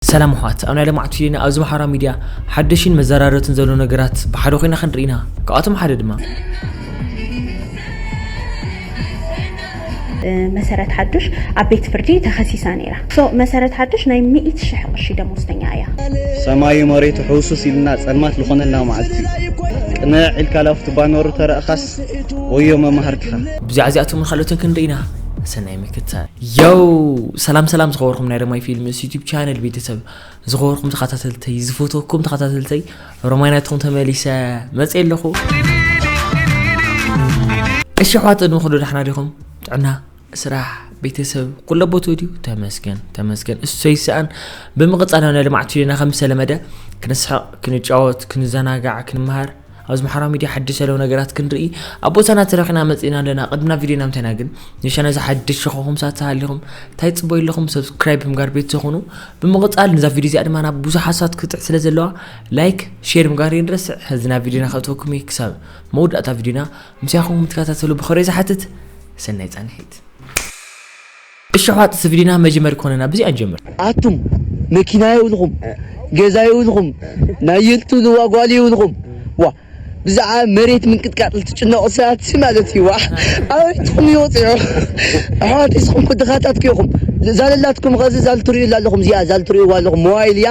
ሰላም ኣሕዋት ኣብ ናይ ለማዕቱ ፊሊና ኣብዚ ማሕበራዊ ሚድያ ሓደሽን መዘራረብትን ዘለዉ ነገራት ብሓደ ኮይና ክንርኢ ኢና ካብኣቶም ሓደ ድማ። መሰረት ሓዱሽ ኣብ ቤት ፍርዲ ተኸሲሳ ነይራ። ሶ መሰረት ሓዱሽ ናይ ሚእቲ ሽሕ ቅርሺ ደሞዝተኛ እያ። ሰማዩ መሬቱ ሕውስውስ ኢልና ጸልማት ዝኾነልና መዓልቲ ቅንዕ ኢልካ ላፍቲ ባኖሩ ተረእኻስ ወዮ መማህርትኻ። ብዛዕባ እዚኣቶምን ካልኦትን ክንርኢ ኢና። ሰናይ ክተ ዮው ሰላም ሰላም ዝኸበርኩም ናይ ረማይ ፊልምስ ዩቲብ ቻነል ቤተሰብ ዝኸበርኩም ተኸታተልተይ ዝፈተኩም ተኸታተልተይ ረማይ ናትኩም ተመሊሰ መፅእ ኣለኹ እሺ ኣሕዋት ቅድሚ ኩሉ ዳሕና ዲኹም ጥዕና ስራሕ ቤተሰብ ኩለ ቦቶ ድዩ ተመስገን ተመስገን እሰይ ሰኣን ብምቕፃል ናይ ልምዓት ዩና ከም ዝተለመደ ክንስሕቕ ክንጫወት ክንዘናጋዕ ክንመሃር ኣብዚ ማሕራዊ ሚድያ ሓድሽ ዘለዉ ነገራት ክንርኢ ኣብ ቦታና ተረኺና መጺእና ኣለና ቅድሚ ናብ ቪድዮና ምተና ግን ንሻና እዚ ሓድሽ ዝኾኹም ሳት ተሃሊኹም ታይ ጽበዩ ኣለኹም ሰብስክራይብ ብምጋር ቤት ተኹኑ ብምቕጻል ንዛ ቪድዮ እዚኣ ድማ ናብ ብዙሓት ሳት ክትብጽሕ ስለ ዘለዋ ላይክ ሼር ምጋር ይንረስዕ ሕዚ ናብ ቪድዮና ከእትወኩም እየ ክሳብ መወዳእታ ቪድዮና ምስያኹም ምትከታተሉ ብኸሬ ዝሓትት ሰናይ ጻንሒት እሸኋት ስቪዲና መጅመር ኮነና ብዚኣ ንጀምር። ኣቱም መኪና የብልኩም ገዛ የብልኩም ናይል ትብልዋ ጓል የብልኩም ዋእ ብዛዕባ መሬት ምንቅጥቃጥ ትጭነቁ ሰባት ሲ ማለት እዩ ዋእ ኣበይትኩም እዩ ወፂዑ ኣሕዋተይ ስኩም ድካታት እኮ ኢኩም ዛለላትኩም ከዚ ዛልትሪኡላ ኣለኩም እዚኣ ዛልትሪኡዋ ኣለኩም ሞባይል እያ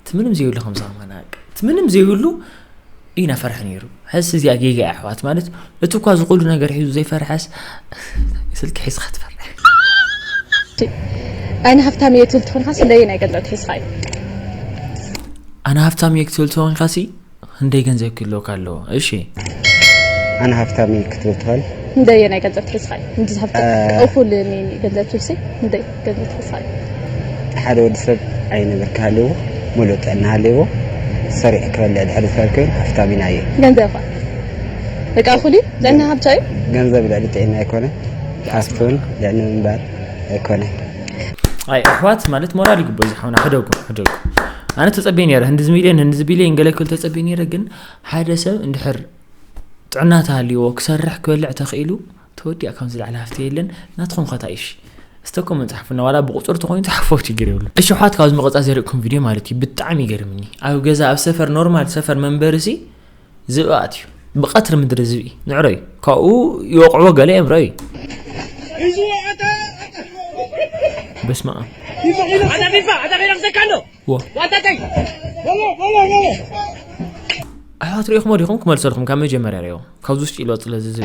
እቲ ምንም ዘይብሉ ከም ዝኸማና እቲ ምንም ዘይብሉ እዩ ናፈርሐ ነይሩ ሕስ እዚኣ ጌጋ እያ ኣሕዋት ማለት እቲ እኳ ዝኹሉ ነገር ሒዙ ዘይፈርሐስ ስልኪ ሒዝካ ትፈርሐ ኣይነ ሃብታም እየ ትብል ትኾንካ ስለየን ኣይገልጠት ሒዝካ እዩ ኣነ ሃብታም እየ ክትብል ትኾንካሲ ክንደይ ገንዘብ ክህልወካ ኣለዎ እሺ። ኣነ ሃፍታም እየ ክትብል ትኽእል። ክንደይ ናይ ገንዘብ ትሕዝካ እዩ እንድዚ ሃፍታም እኹል ገንዘብ ትብሲ ክንደይ ገንዘብ ትሕዝካ እዩ ሓደ ወዲ ሰብ ኣይ ነገር ክሃልዎ ሙሉእ ጥዕና ሃልዎ ሰሪዕ ክበልዕ ድሕሪ ዝኽእል ኮይኑ ሃፍታም ኢና እየ ገንዘብ ኸ በቃ እኹል እዩ ጥዕና ሃብታ እዩ ገንዘብ ልዕሊ ጥዕና ኣይኮነ ሃፍቱን ልዕሊ ምንባር ኣይኮነ ኣይ ኣሕዋት ማለት ሞራል ይግበ ዝሓውና ሕደጉ ሕደጉ ኣነ ተጸቤ ነረ ህንድዚ ሚልዮን ህንድዚ ቢልዮን ገለ ክብል ተጸቤ ነረ ግን ሓደ ሰብ እንድሕር ጥዕና ተሃልዎ ክሰርሕ ክበልዕ ተኽኢሉ ተወዲያ ከም ዝለዓለ ሃፍቲ የለን ናትኹም ከታይሽ ስተኮም መፅሓፍና ዋላ ብቁፅር ተኮይኑ ተሓፎ ችግር ይብሉ እሺ ኋት ካብዚ መቐፃ ዘርእኩም ቪድዮ ማለት እዩ ብጣዕሚ ይገርምኒ ኣብ ገዛ ኣብ ሰፈር ኖርማል ሰፈር መንበርሲ ዝብኢ ኣትዩ ብቐትሪ ምድሪ ዝብኢ ንዕሮ እዩ ካብኡ ይወቕዕዎ ገለ እዮም ረዩ በስመ ኣብ ኣሕዋት ሪኢኹሞ ዲኹም ክመልሰልኩም ካብ መጀመርያ ሪኦም ካብዚ ውሽጢ ኢልዎ ፅለ ዝዝብ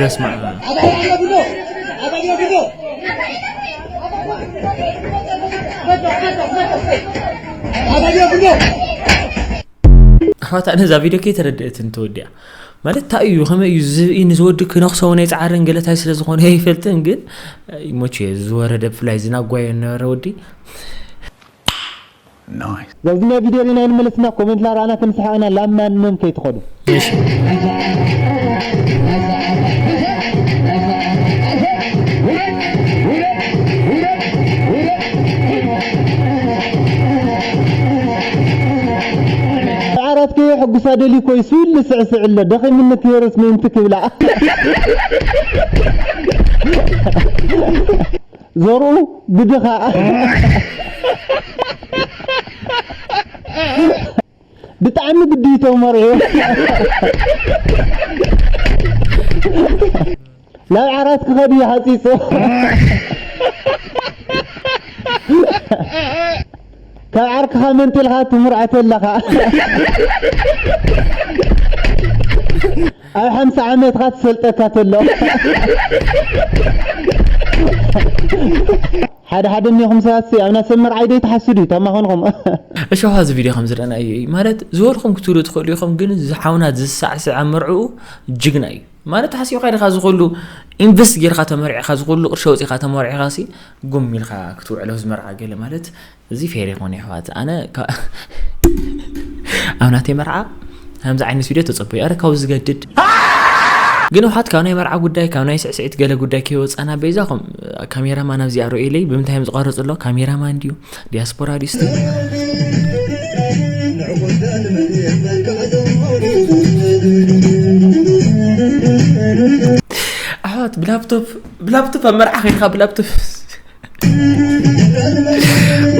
በስመ አብ ኣሕዋት ኣነ እዛ ቪድዮ ከይተረድአትን ተወዲኣ ማለት እንታይ እዩ ከመይ እዩ ዝብኢ ንዝወዲ ክነክሶ እውን ኣይፃዓርን ገለታይ ስለ ዝኾነ ኣይፈልጥን ግን ይሞች ዝወረደ ብፍላይ ዝናጓዮ ነበረ ወዲ ናብዚ ናይ ቪድዮ ሪኢና ይንመለስና ኮሜንት ላራኣና ክንስሕቅ ኢና ላብ ማን መን ከይትከዱ። ሰዓራት ከየሕጉሳ ደልዩ ኮይሱ ኢሉ ዝስዕስዕ ኣሎ ደኺሙኒ ክህርስ ምእንቲ ክብላ ዘርኡ ብድኻ ብጣዕሚ ግዲ ይተመር እዩ ናብ ዓራት ክኸድ እዩ ሓፂፁ ካብ ዓርክኻ መንጢልካ ትምርዖቶ ኣለኻ ኣብ ሓምሳ ዓመትካ ትሰልጠካ ተሎ ሓደ ሓደ እኒኹም ሰባት ሲ ኣብና ሰብ መርዓይ ዶ ይትሓስዱ እዩ ተማኾንኹም እሾኻ እዚ ቪድዮ ከም ዝረኣና እዩ እዩ ማለት ዝበልኩም ክትብሉ ትኽእሉ ኢኹም ግን ዝሓውና ዝሳዕስዕ ኣብ መርዕኡ ጅግና እዩ ማለት ሓሲብካ ኢኻ ዝኹሉ ኢንቨስት ጌርካ ተመርዒኻ ዝኹሉ ቅርሺ ወፂኻ ተመርዒኻ ሲ ጉም ኢልካ ክትውዕሎ ዝመርዓ ገለ ማለት እዚ ፌር ይኮን ይሕዋት ኣነ ኣብ ናተይ መርዓ ከምዚ ዓይነት ቪድዮ ተፀበዩ ኣረ ካብኡ ዝገድድ ግን ውሓት ካብ ናይ መርዓ ጉዳይ ካብ ናይ ስዕስዒት ገለ ጉዳይ ከይወፃና በይዛኹም ካሜራማን ኣብዚ ኣርእዩለይ ብምንታይ እዮም ዝቐርፅ ኣሎ ካሜራማን ድዩ ዲያስፖራ ድዩ ኣሕዋት ብላፕቶፕ ብላፕቶፕ ኣብ መርዓ ከይድካ ብላፕቶፕ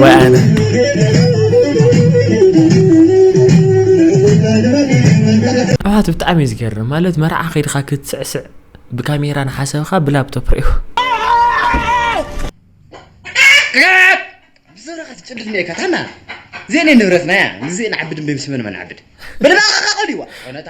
ወይ ኣነ ኣባት ብጣዕሚ እዩ ዝገርም ማለት መርዓ ከይድካ ክትስዕስዕ ብካሜራ ንሓሰብካ ብላፕቶፕ ሪኦ ብዘረካ ትጭድፍ ነካ ታና ዜኔ ንብረትና እያ ንዜ ንዓብድ እምበይ ምስመን መናዓብድ ብድባኻኻ ቆልዋ ኮነታ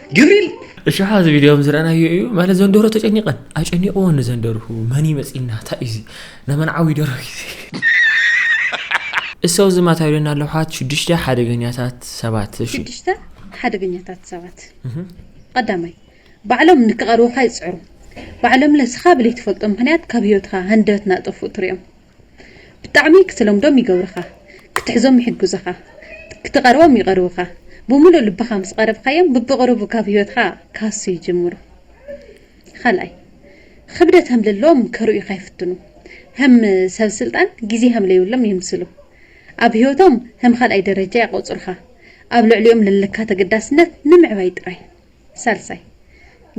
ግብሪል እሽሓ እዚ ቪድዮ ምስ ረኣናዮ እዩ ማለት ዘንደሮ ተጨኒቐን ኣጨኒቕዎ ንዘንደርሁ መን ይመፅና እንታይ እዩ እዚ ነመን ዓዊ ደሮ እዩ እሰው ዝማት ኣይብለና ኣለዉ ሓት ሽዱሽተ ሓደገኛታት ሰባት እሺ ሽዱሽተ ሓደገኛታት ሰባት ቀዳማይ ባዕሎም ንክቐርቡኻ ይፅዕሩ ባዕሎም ለስኻ ብለይትፈልጦ ምክንያት ካብ ህይወትካ ሃንደበት ናጠፍኡ ትሪኦም ብጣዕሚ ክትለምዶም ይገብሩኻ ክትሕዞም ይሕግዙኻ ክትቐርቦም ይቐርቡኻ ብሙሉእ ልብኻ ምስ ቐረብኻዮም ብብቕሩቡ ካብ ህይወትኻ ክሃሱ ይጅምሩ ኻልኣይ ኽብደት ሀምልሎም ከርእዩኻ ይፍትኑ ሀም ሰብ ስልጣን ግዜ ሀምለይብሎም የምስሉ ኣብ ህይወቶም ሀም ኻልኣይ ደረጃ የቐፅሩኻ ኣብ ልዕሊኦም ለለካ ተገዳስነት ንምዕባይ ጥራይ ሳልሳይ፣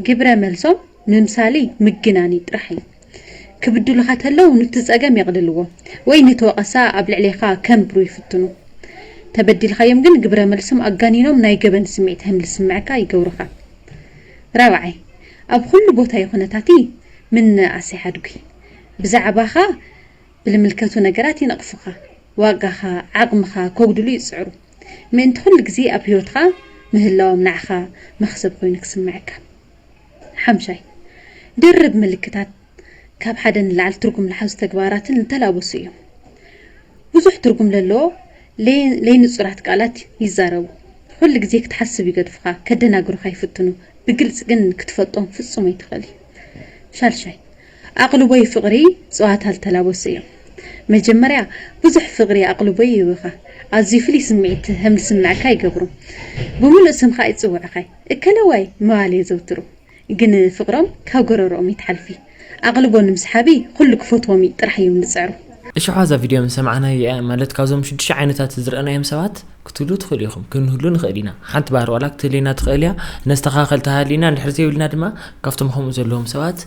ግብረ መልሶም ምምሳልይ ምግናንይ ጥራሕ እዩ። ክብድሉኻ ተለው ኑቲ ጸገም የቕልልዎ ወይ ኑቲ ወቐሳ ኣብ ልዕሌኻ ከንብሩ ይፍትኑ። ተበዲልካዮም ግን ግብረ መልሶም ኣጋኒኖም ናይ ገበን ስምዒት ሀም ልስምዕካ ይገብሩኻ። ራብዓይ፣ ኣብ ኹሉ ቦታይ ኹነታትይ ምንእኣስ ይሓድጉይ። ብዛዕባኻ ብልምልከቱ ነገራት ይነቕፉኻ፣ ዋጋኻ፣ ዓቕምኻ ከጉድሉ ይጽዕሩ። ምእንቲ ኩሉ ግዜ ኣብ ህይወትካ ምህላዎም ንዓኻ መኽሰብ ኮይኑ ክስመዐካ። ሓምሻይ፣ ድርብ ምልክታት ካብ ሓደ ንላዕሊ ትርጉም ልሓዙ ተግባራትን ልተላበሱ እዮም። ብዙሕ ትርጉም ለለዎ ለይንጹራት ቃላት ይዛረቡ። ኩሉ ግዜ ክትሓስብ ይገድፉኻ፣ ከደናግሩኻ ይፍትኑ፣ ብግልጺ ግን ክትፈልጦም ፍጹም ኣይትኽእልይ። ሻልሻይ፣ ኣቕልቦይ ፍቕሪ ጸዋታ ልተላበሱ እዮም። መጀመርያ ብዙሕ ፍቕሪ ኣቕልቦይ ይህብኻ። ኣዝዩ ፍሉይ ስምዒት ሀም ልስምዕካ ይገብሩ። ብምሉእ ስምኻ ይጽውዑኻ። እከለዋይ ምባል የዘውትሩ። ግን ፍቕሮም ካብ ጎረርኦም ይትሓልፊ። ኣቕልቦ ንምስሓቢ ኩሉ ክፈትዎም ጥራሕ እዮም ልጽዕሩ። እሽሖ እዛ ቪድዮ ምስ ሰማዕናዮ እያ ማለት ካብዞም ሽዱሽተ ዓይነታት ዝረኣናዮም ሰባት ክትህልዉ ትኽእሉ ኢኹም ክንህሉ ንኽእል ኢና ሓንቲ ባህሪ ዋላ ክትህልየና ትኽእል እያ ነስተኻኸል ተሃሊና እንድሕር ዘይብልና ድማ ካብቶም ከምኡ ዘለዎም ሰባት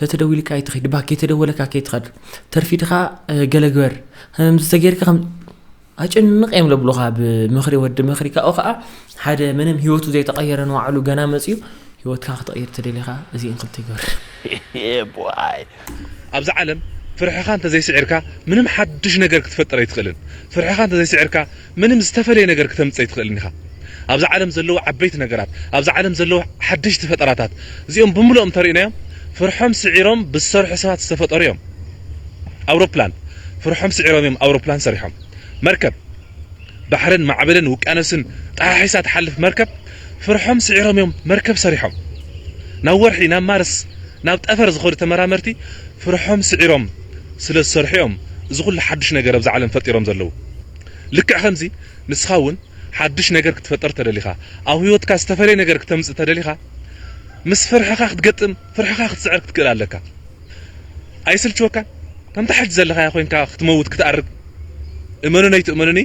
ተተደዊልካ ኣይትኺድ እባ ከይተደወለካ ከይትኸድ ተርፊድኻ ገለ ግበር ከምዚ ተገይርካ ከም ኣጭንቕ እዮም ለብሉኻ ብምኽሪ ወዲ ምኽሪ ካብኡ ከዓ ሓደ ምንም ህይወቱ ዘይተቐየረ ንባዕሉ ገና መፅዩ ህይወትካ ክትቐይር ተደሊኻ እዚእን ክልተ ይገብር ኣብዚ ዓለም ፍርሕኻ እንተዘይስዒርካ ምንም ሓድሽ ነገር ክትፈጥር ኣይትኽእልን ፍርሕኻ እንተዘይስዒርካ ምንም ዝተፈለየ ነገር ክተምጽእ ኣይትኽእልን ኢኻ። ኣብዛ ዓለም ዘለዉ ዓበይቲ ነገራት፣ ኣብዛ ዓለም ዘለዉ ሓደሽቲ ፈጠራታት፣ እዚኦም ብምሉኦም እንተሪእናዮም ፍርሖም ስዒሮም ብዝሰርሑ ሰባት ዝተፈጠሩ እዮም። ኣውሮፕላን ፍርሖም ስዒሮም እዮም ኣውሮፕላን ሰሪሖም። መርከብ ባሕርን ማዕበልን ውቅያኖስን ጠሓሒሳ ትሓልፍ መርከብ ፍርሖም ስዒሮም እዮም መርከብ ሰሪሖም። ናብ ወርሒ ናብ ማርስ ናብ ጠፈር ዝኸዱ ተመራመርቲ ፍርሖም ስዒሮም ስለ ዝሰርሑ እዮም እዚ ኩሉ ሓዱሽ ነገር ኣብዛ ዓለም ፈጢሮም ዘለዉ። ልክዕ ከምዚ ንስኻ እውን ሓድሽ ነገር ክትፈጥር እተደሊኻ፣ ኣብ ህይወትካ ዝተፈልየ ነገር ክተምጽእ እተደሊኻ፣ ምስ ፍርሕኻ ክትገጥም፣ ፍርሕኻ ክትስዕር ክትክእል ኣለካ። ኣይስልችወካን? ከምታ ሕጂ ዘለኻያ ኮይንካ ክትመውት ክትኣርግ እመኑኒ ኣይትእመኑኒ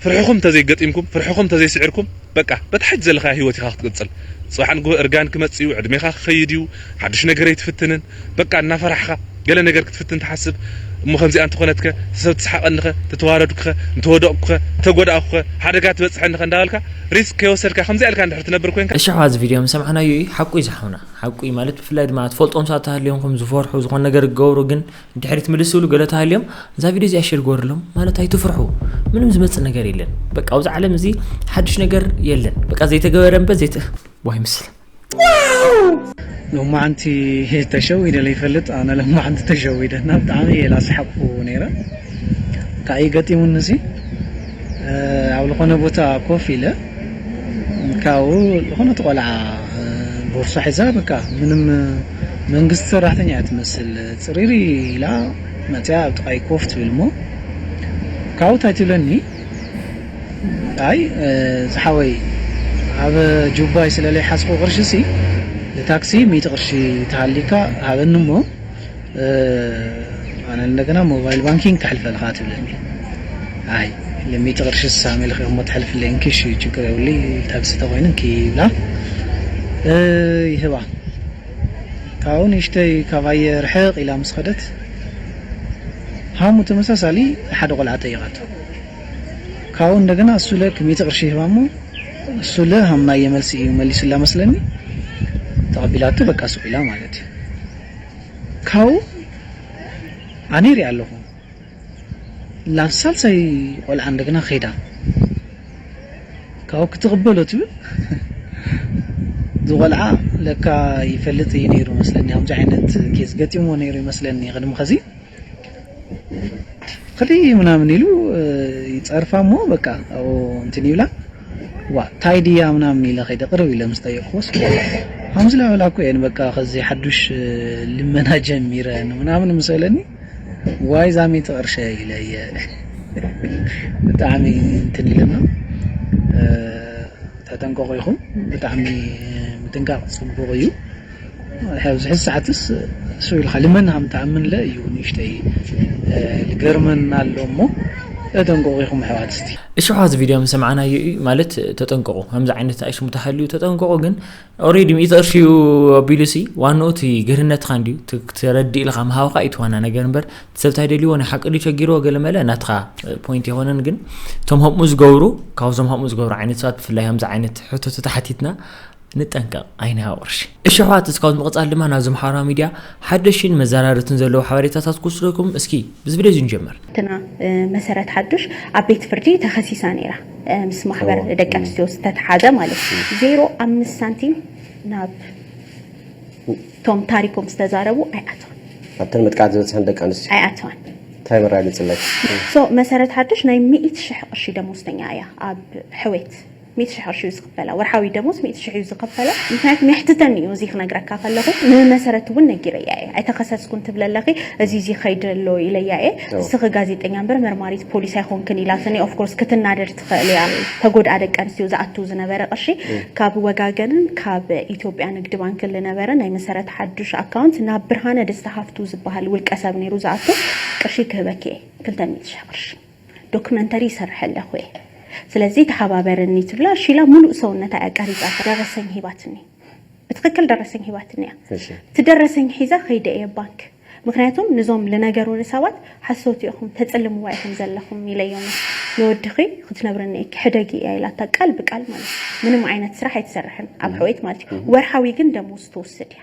ፍርሕኹም እንተዘይገጢምኩም፣ ፍርሕኹም እንተዘይስዒርኩም፣ በቃ በቲ ሐጂ ዘለኻዮ ሂወት ኢኻ ክትቅጽል ጽባሕ ንግሆ እርጋን ክመጽእ እዩ ዕድሜኻ ክኸይድ እዩ ሓዱሽ ነገር ኣይትፍትንን በቃ እናፈራሕኻ ገለ ነገር ክትፍትን ትሓስብ እሞ ከምዚኣ እንተኾነትከ ሰብ ትስሓቀኒኸ ተተዋረድኩኸ እንተወደቅኩኸ እንተጎዳእኩኸ ሓደጋ ትበጽሐኒኸ እንዳበልካ ሪስክ ከይወሰድካ ከምዚኣ ኢልካ እንድሕር ትነብር ኮንካ እሺ ኣሕዋት እዚ ቪድዮ ምስ ሰማዕናዮ እዩ ሓቁ እዩ ዝሓውና ሓቁ እዩ ማለት ብፍላይ ድማ ትፈልጦም ሰባት ተሃልዮምኹም ዝፈርሑ ዝኾነ ነገር ክገብሩ ግን ድሕሪት ምልስ ዝብሉ ገለ ተሃልዮም እዛ ቪድዮ እዚኣ ሼር ግበርሎም ማለት ኣይትፍርሑ ምንም ዝመፅእ ነገር የለን በቃ ኣብዚ ዓለም እዚ ሓድሽ ነገር የለን በቃ ዘይተገበረ እምበ ዘይተ ዋይ ምስል ሎማዓንቲ ተሸዊደ ዘይፈልጥ ኣነ ሎማዓንቲ ተሸዊደ እና ብጣዕሚ እየ ላስሓቅኩ ነይረ እንታይ ገጢሙኒ ሲ ኣብ ዝኾነ ቦታ ኮፍ ኢለ ካብኡ ዝኾነት ቆልዓ ቦርሳ ሒዛ በቃ ምንም መንግስቲ ሰራሕተኛ እያ ትመስል ፅሪሪ ኢላ መፅያ ኣብ ጥቃይ ኮፍ ትብል እሞ ካብኡ እንታይ ትብለኒ ኣይ ዝሓወይ ኣብ ጁባይ ስለለይ ሓዝኩ ቅርሺ ሲ ንታክሲ ሚእቲ ቅርሺ ተሃሊካ ሃበኒ እሞ ኣነ እንደገና ሞባይል ባንኪንግ ከሕልፈልኻ ትብለኒ ኣይ ልሚጥ ቅርሺ ስሳ ሚልኺ እሞ ተሕልፍለይ እንኪ እሺ ችግር የብሊ ታክሲ ተኮይኑ እንኪ ይብላ ይህባ ካብኡ ንእሽተይ ካባየ ርሕቕ ኢላ ምስ ኸደት ሃሙ ተመሳሳሊ ንሓደ ቆልዓ ጠይቓቶ ካብኡ እንደገና እሱ ለ ክሚቲ ቅርሺ ይህባ እሞ እሱ ለ ሃምናየ መልሲ እዩ መሊሱላ መስለኒ ተቐቢላቶ በቃ ሱቕ ኢላ ማለት እዩ ካው ኣነ ይሪኣ ኣለኩ ናብ ሳልሳይ ቆልዓ እንደገና ከይዳ ካው ክትቅበሎ ትብል ዝቆልዓ ለካ ይፈልጥ እዩ ነይሩ መስለኒ ከምዚ ዓይነት ኬዝ ገጢምዎ ነይሩ ይመስለኒ ቅድሚ ከዚ ኽዲ ምናምን ኢሉ ይጸርፋ እሞ በቃ ኣብኡ እንትን ይብላ ዋ ታይ ድያ ምናምን ኢለ ከይደ ቅርብ ኢለ ምስ ጠየቅኩዎስ ከምዚ ላበላ እኮ እየን በቃ ከዚ ሓዱሽ ልመና ጀሚረን ምናምን ምስ በለኒ ዋይ ዛሚት ቅርሸ ኢለ እየ ብጣዕሚ እንትን ኢለና ተጠንቀቑ ኢኹም ብጣዕሚ ምጥንቃቕ ጽቡቕ እዩ። ኣብዚ ሕዚ ሰዓትስ ስው ኢልካ ልመና ከም ትኣምን ለ እዩ ንእሽተይ ልገርመና ኣሎ እሞ ተጠንቀቑ ኢኹም ኣሕዋት እስቲ እሽሖ እዚ ቪድዮ ምስ ሰማዕናዮ እዩ ማለት ተጠንቀቑ ከምዚ ዓይነት ኣሽሙ ተሃልዩ ተጠንቀቑ ግን ኦሬዲ ሚእቲ ቅርሺ እዩ ኣቢሉሲ ዋንኡ እቲ ግርህነትካ እንድዩ ትረድእ ኢልካ ምሃብካ እዩ ዋና ነገር እምበር ሰብ እንታይ ደልዎ ናይ ሓቂ ድዩ ቸጊርዎ ገለ መለ ናትካ ፖይንት የኮነን ግን እቶም ከምኡ ዝገብሩ ካብዞም ከምኡ ዝገብሩ ዓይነት ሰባት ብፍላይ ከምዚ ዓይነት ሕቶታት ሓቲትና ንጠንቀቕ ኣይንሃብ ቅርሺ። እሺ ኣሕዋት እስካብ ምቅጻል ድማ ናብዚ ማሕበራዊ ሚድያ ሓደሽቲን መዘራርብትን ዘለዉ ሓበሬታታት ክውስደኩም እስኪ ብዚ ቪድዮ እዚ ንጀምር። ሓፍትና መሰረት ሓዱሽ ኣብ ቤት ፍርዲ ተኸሲሳ ነይራ ምስ ማሕበር ደቂ ኣንስትዮ ዝተተሓዘ ማለት እዩ። ዜሮ ኣምስት ሳንቲም ናብ እቶም ታሪኮም ዝተዛረቡ ኣይኣተዋን ኣብተን መጥቃዕቲ ዝበፅሐን ደቂ ኣንስትዮ ኣይኣተዋን። እንታይ መራግፅለኪ? ሶ መሰረት ሓዱሽ ናይ ሚእቲ ሽሕ ቅርሺ ደሞዝተኛ እያ ኣብ ሕዌት ሚእቲ ሽሕ ቅርሺ እዩ ዝኽፈላ ወርሓዊ ደሞዝ ሚእቲ ሽሕ እዩ ዝኽፈላ ምኽንያቱ የሕትተኒ እዩ እዚ ክነግረካ ከለኹ ንመሰረት እውን ነጊረያ እየ ኣይተኸሰስኩን ትብለ ኣለኺ እዚ እዚ ከይዲ ኣሎ ኢለያ እየ ንስኺ ጋዜጠኛ እምበር መርማሪት ፖሊስ ኣይኮንክን ኢላትኒ ኦፍኮርስ ክትናደድ ትኽእል እያ ተጎድኣ ደቂ ኣንስትዮ ዝኣቱ ዝነበረ ቅርሺ ካብ ወጋገንን ካብ ኢትዮጵያ ንግዲ ባንክን ዝነበረ ናይ መሰረት ሓዱሽ ኣካውንት ናብ ብርሃነ ደስታ ሃፍቱ ዝበሃል ውልቀ ሰብ ነይሩ ዝኣቱ ቅርሺ ክህበኪ እየ ክልተ ሚእቲ ሽሕ ቅርሺ ዶክመንተሪ ይሰርሕ ኣለኹ እየ ስለዚ ተሓባበረኒ ትብላ እሺ ኢላ ሙሉእ ሰውነታ እያ ቀሪፃቶ ደረሰኝ ሂባትኒ ብትክክል ደረሰኝ ሂባትኒ እያ እቲ ደረሰኝ ሒዛ ከይደ እየ ባንክ ምክንያቱም ንዞም ልነገሩኒ ሰባት ሓሰውቲ ኢኹም ተፅልምዋ ኢኹም ዘለኹም ኢለዮም ንወድኺ ክትነብርኒ እይኪ ሕደጊ እያ ኢላታ ቃል ብቃል ማለት ምንም ዓይነት ስራሕ ኣይትሰርሕን ኣብ ሕውየት ማለት እዩ ወርሓዊ ግን ደሞዝ ትወስድ እያ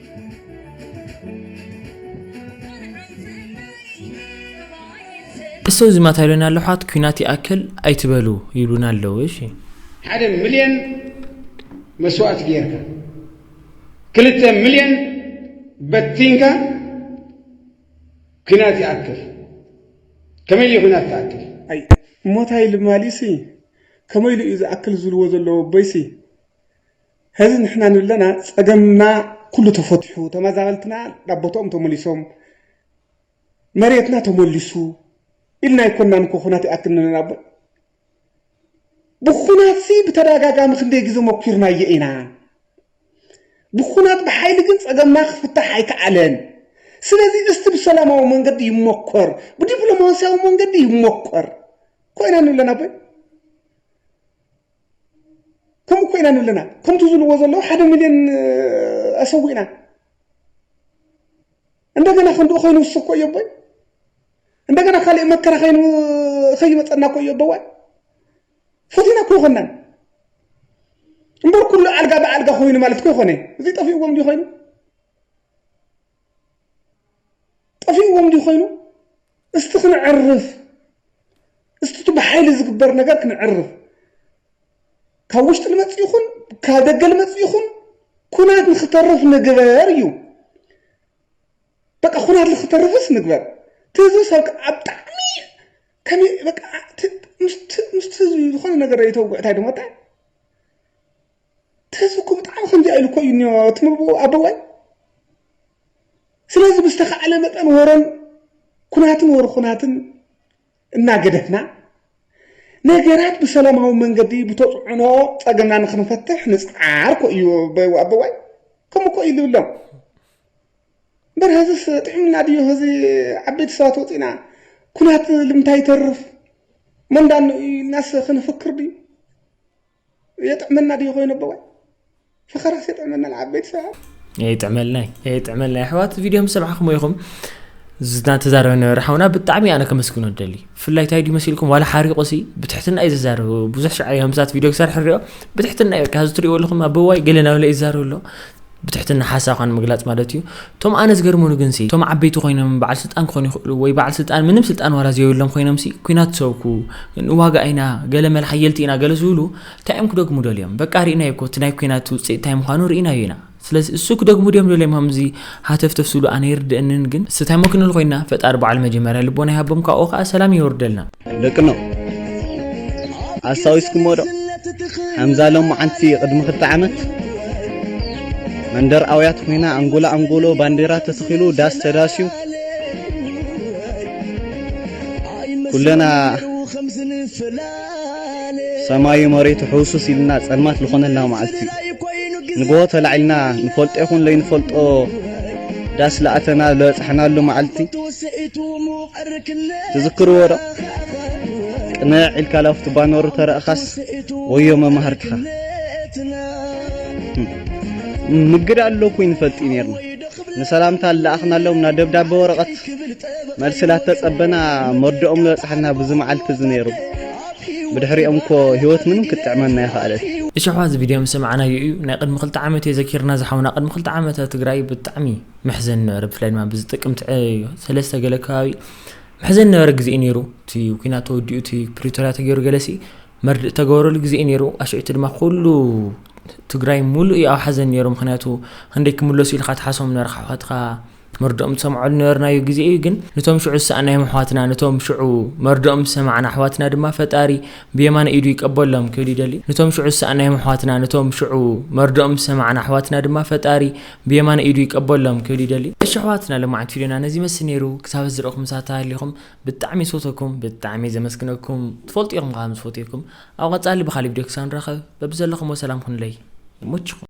እሰይ እዚ ማታ ኢሎና ኣሎ ኣሕዋት ኩናት ይኣክል ኣይትበሉ ይብሉና ኣለዉ እሺ። ሓደ ምልየን መስዋእቲ ጌርካ ክልተ ምልየን በቲንካ ኩናት ይኣክል ከመይ እዩ ኩናት ትኣክል? ኣይ ሞታይ ልማሊ'ሲ ከመይ ኢሉ እዩ ዝኣክል ዝብልዎ ዘለዉ ኣቦይ'ሲ ሀዚ ንሕና ንለና ፀገምና ኩሉ ተፈቲሑ ተመዛበልትና ናብ ቦትኦም ተመሊሶም መሬትና ተመሊሱ ኢልና ኣይኮናን እኮ ኩናት ይኣክል ንለና እበር ብኩናት ሲ ብተዳጋጋሚ ክንደይ ግዘ መኪርናዮ ኢና ብኩናት ብሓይሊ ግን ፀገምና ክፍታሕ ኣይከኣለን ስለዚ እስቲ ብሰላማዊ መንገዲ ይሞከር፣ ብዲፕሎማሲያዊ መንገዲ ይሞከር ኮይና ንብለና ቦይ ከምኡ ኮይና ኣለና ከምቲ ዝብልዎ ዘለዉ ሓደ ሚልዮን ኣሰዊእና እንደገና ክንድኡ ኮይኑ ውስብ እኮ እዮ ኣቦይ እንደገና ካልእ መከራ ኮይኑ ከይመፀና እኮ እዮ ኣቦዋይ ፈቲና እኮ ይኮናን እምበር ኩሉ ኣልጋ ብኣልጋ ኮይኑ ማለት እኮ ይኮነ እዚ ጠፊእዎም እንዲ ኮይኑ ጠፊእዎም ድዩ ኮይኑ እስቲ ክነዕርፍ እስቲ እቲ ብሓይሊ ዝግበር ነገር ክነዕርፍ ካብ ውሽጢ ልመጽእ ይኹን ካብ ደገ ልመጽእ ይኹን ኩናት ንክተርፍ ንግበር እዩ በቃ ኩናት ንክተርፍስ ንግበር እቲ ህዝቢ ሰብ ኣብ ብጣዕሚ ከመይ በቃ ምስቲ ህዝቢ ዝኾነ ነገር ይተውግዕ እንታይ ድሞታ ተዝኩ ብጣዕሚ ከምዚኣ ኢሉ እኮ እዩ እኒኦ እቲ ምብኡ ኣቦዋይ ስለዚ ብዝተኻዕለ መጠን ወረን ኩናትን ወር ኩናትን እናገደፍና ነገራት ብሰላማዊ መንገዲ ብተፅዕኖ ፀገምና ንክንፈትሕ ንፅዓር እኮ እዩ ኣቦዋይ ከምኡ እኮ እዩ ዝብሎም እምበር ሀዝስ ጥዕምና ድዮ ሀዚ ዓበይቲ ሰባት ወፂና ኩናት ልምንታይ ይተርፍ መንዳን ኢልናስ ክንፍክር ድዩ የጥዕመና ድዩ ኮይኑ ኣቦ ጓል ፈኸራስ የጥዕመና ንዓበይቲ ሰባት የጥዕመልና የጥዕመልና ኣሕዋት ቪድዮ ምስ ሰምዓኹም ኢኹም ዝተዛረበ ነበረ ሓውና ብጣዕሚ ኣነ ከመስግኖ ደሊ ብፍላይ እንታይ ድዩ መሲልኩም ዋላ ሓሪቑ ሲ ብትሕትና እዩ ዝዛረቡ ብዙሕ ሸዓ ከምዛት ቪድዮ ክሰርሕ ንሪኦ ብትሕትና እዩ በቃ እዚ ትሪእዎ ኣለኹም ኣበዋይ ገለ ናብ ለይ ይዛረብ ኣሎ ብትሕትና ሓሳብካ ንምግላጽ ማለት እዩ እቶም ኣነ ዝገርሙኒ ግንሲ እቶም ዓበይቲ ኮይኖም በዓል ስልጣን ክኾኑ ይኽእሉ ወይ በዓል ስልጣን ምንም ስልጣን ዋላ ዘየብሎም ኮይኖምሲ ኩናት ሰብኩ ንዋጋእ ኢና ገለ መለ ሓየልቲ ኢና ገለ ዝብሉ እንታይ እዮም ክደግሙ ደልዮም በቃ ርኢናዮ እኮ እቲ ናይ ኩናት ውጽኢት እንታይ ምዃኑ ርኢናዮ ኢና ስለዚ እሱ ክደግሙ ድዮም ደልዮም ከምዚ ሃተፍተፍ ዝብሉ ኣነ ይርድእንን ግን ስታይሞ ክንል ኮይና ፈጣሪ በዓል መጀመርያ ልቦና ይሃቦም ካብኡ ከኣ ሰላም የውርደልና ደቅኖ ኣስታዊስኩሞ ዶ ከምዛ ሎማዓንቲ ቅድሚ ክልተ ዓመት መንደር ኣውያት ኮይና ኣንጎሎ ኣንጎሎ ባንዴራ ተተኺሉ ዳስ ተዳስዩ ኩለና ሰማዩ መሬቱ ሕውሱስ ኢልና ጸልማት ዝኾነላ መዓልቲ ንግሆ ተላዒልና ንፈልጦ ይኹን ለይንፈልጦ ዳስ ለኣተና ለበጻሕናሉ መዓልቲ ትዝክርዎ ዶ ቅነዕ ኢልካ ላፍቲ ባኖሩ ተረእኻስ ወዮ መማህርትኻ ምግድ ኣሎ ኩይ ንፈልጢ ነርና ንሰላምታ ለኣኽናሎም ናብ ደብዳቤ ወረቐት መልሲ ላተጸበና መርድኦም ዝበጽሓና ብዚ መዓልቲ እዚ ነይሩ ብድሕሪኦም እኮ ህይወት ምንም ክትጥዕመና ይኸኣለት እሽሕዋ እዚ ቪድዮ ምስ ሰማዕናዮ እዩ ናይ ቅድሚ ክልተ ዓመት እዩ ዘኪርና ዝሓውና ቅድሚ ክልተ ዓመት ትግራይ ብጣዕሚ መሕዘኒ ነበረ ብፍላይ ድማ ብዚ ጥቅምቲ ዕዮ ሰለስተ ገለ ከባቢ መሕዘኒ ነበረ ግዜ ነይሩ እቲ ኩናት ተወዲኡ እቲ ፕሪቶርያ ተገይሩ ገለሲ መርድእ ተገበረሉ ግዜ እዩ ነይሩ ኣሸዕቲ ድማ ኩሉ ትግራይ ሙሉእ እዩ ኣብ ሓዘን ነይሩ ምክንያቱ ክንደይ ክምለሱ ኢልካ ትሓሶም ነርካሕኸትካ መርድኦም ዝሰምዓሉ ነበርናዮ ግዜ እዩ ግን ነቶም ሽዑ ዝሰኣናዮም ኣሕዋትና ነቶም ሽዑ መርድኦም ዝሰማዕና ኣሕዋትና ድማ ፈጣሪ ብየማነ ኢዱ ይቀበሎም ክብል ይደሊ ነቶም ሽዑ ዝሰኣናዮም ኣሕዋትና ነቶም ሽዑ መርድኦም ዝሰማዕና ኣሕዋትና ድማ ፈጣሪ ብየማን ኢዱ ይቀበሎም ክብል ይደሊ። እሺ ኣሕዋትና ሎማዓንቲ ፊድዮና ነዚ ይመስል ነይሩ ክሳብ እዚ ረእኹም ሳታ ሃሊኹም ብጣዕሚ ዝፈትወኩም ብጣዕሚ ዘመስግነኩም ትፈልጡ ኢኹም ከኣ ምስፈትየኩም ኣብ ቀጻሊ ብካሊእ ቪድዮ ክሳብ ንራኸብ በብዘለኹሞ ሰላም ኩኑለይ ይሞችኹም።